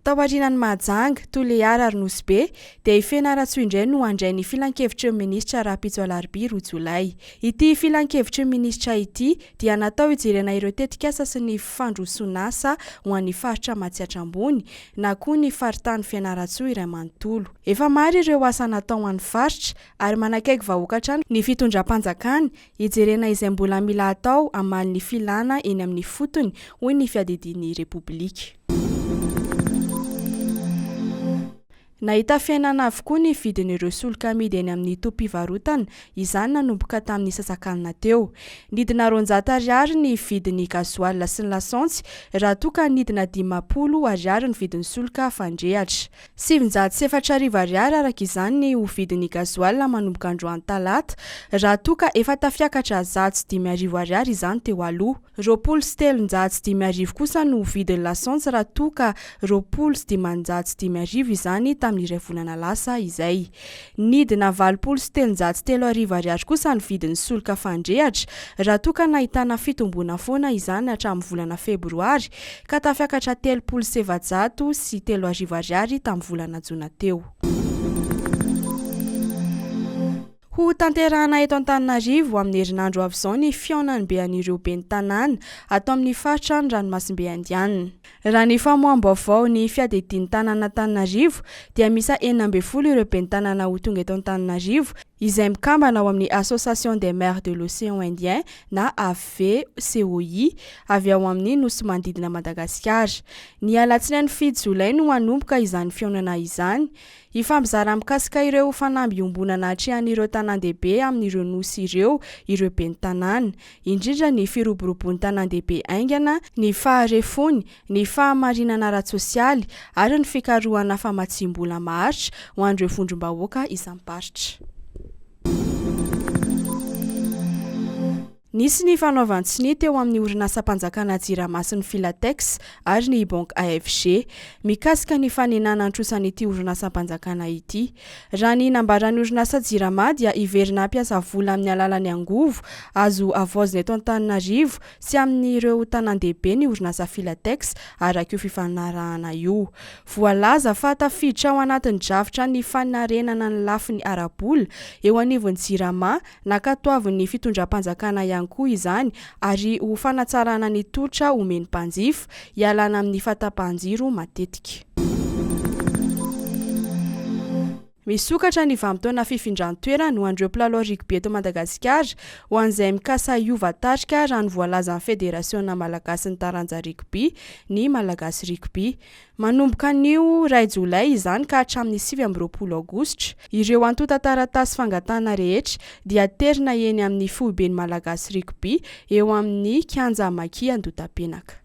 Taorianan'i Mahajanga, Toliara ary Nosy Be dia i Fianarantsoa indray no handray ny Filankevitry ny Minisitra rahampitso Alarobia roa Jolay. Ity Filankevitry ny Minisitra ity dia natao hijerena ireo tetikasa sy ny fandroson'asa ho an'ny Faritra Matsiatra Ambony na koa ny Faritany Fianarantsoa iray manontolo. Efa maro ireo asa natao ho an'ny Faritra ary manakaiky vahoaka hatrany ny Fitondram-panjakana hijerena izay mbola mila atao hamaly ny filana eny amin'ny fotony, hoy ny Fiadidian'ny Repoblika. Nahita fiainana avokoa ny vidin'ireo solika amidy eny amin'ny tobim-pivarotana, izany nanomboka tamin'ny sasak'alina teo. Nidina roanjato ariary ny vidin'ny gasoil sy ny lasantsy, raha toa ka nidina dimampolo ariary ny vidin'ny solika fandrehatra. Sivinjato sy efatra arivo ariary araka izany ny ho vidin'ny gasoil manomboka androany talata, raha toa ka efa tafiakatra zato sy dimy arivo ariary izany teo aloha. Roapolo sy telonjato sy dimy arivo kosa no ho vidin'ny lasantsy raha toa ka roapolo sy dimanjato sy dimy arivo izany tamin'ny iray volana lasa izay. Nidina valopolo sy telonjato sy telo arivo ariary kosa ny vidin'ny solika fandrehatra, raha toa ka nahitana fitomboana foana izany hatramin'ny volana febroary, ka tafiakatra telopolo sy efajato sy telo arivo ariary tamin'ny volana jona teo. Ho tanterahana eto Antananarivo, amin'ny herinandro avy izao ny fihaonan'ny bean'ireo ben'ny tanàna, ato amin'ny faritra ny ranomasimbe indianina. Raha ny famoaham-baovao ny fiadedin'ny tanàn'Antananarivo dia miisa enina ambin'ny folo ireo ben'ny tanàna ho tonga eto Antananarivo izay mikambana ao amin'ny Association des maires de l'Océan Indien na AVCOI avy ao amin'ny nosy manodidina Madagasikara. Ny alatsinainy fito jolay no hanomboka izany fihaonana izany Hifampizara mikasika ireo fanamby iombonana atrehan'ireo tanàndehibe amin'ireo nosy ireo ireo ben'ny tanàna, indrindra ny firoborobon'ny tanàndehibe haingana, ny faharefony, ny fahamarinana ara-tsosialy ary ny fikarohana famatsiam-bola maharitra ho an'ireo vondrom-bahoaka isam-paritra. Nisy ny fanaovan-tsonia teo amin'ny orinasam-panjakana Jirama sy ny Filatex ary ny Banque AFG, mikasika ny fanenana an-trosan'ity orinasam-panjakana ity. Raha ny nambaran'ny orinasa Jirama dia hiverina hampiasa vola amin'ny alalan'ny angovo azo havaozina eto Antananarivo sy amin'ireo tanàn-dehibe ny orinasa Filatex, araka io fifanarahana io. Voalaza fa tafiditra ao anatin'ny drafitra ny fanarenana ny lafiny ara-bola eo anivon'ny Jirama Nankatoavin'ny fitondram-panjakana ihany koa izany ary ho fanatsarana ny tolotra omen'ny mpanjifa, hialana amin'ny fahatapahan-jiro matetika. Misokatra ny vanim-potoana fifindran-toerana ho an'ireo mpilalao rugby eto Madagasikara, ho an'izay mikasa hiova tarika raha ny voalazan'ny Federasiona malagasin'ny taranja rugby, ny Malagasy Rugby. Manomboka anio iray jolay izany ka hatramin'ny sivy amby roapolo aogositra, ireo antontan-taratasy fangatahana rehetra dia aterina eny amin'ny Foiben'ny Malagasy Rugby eo amin'ny Kianja Maki Andotapenaka.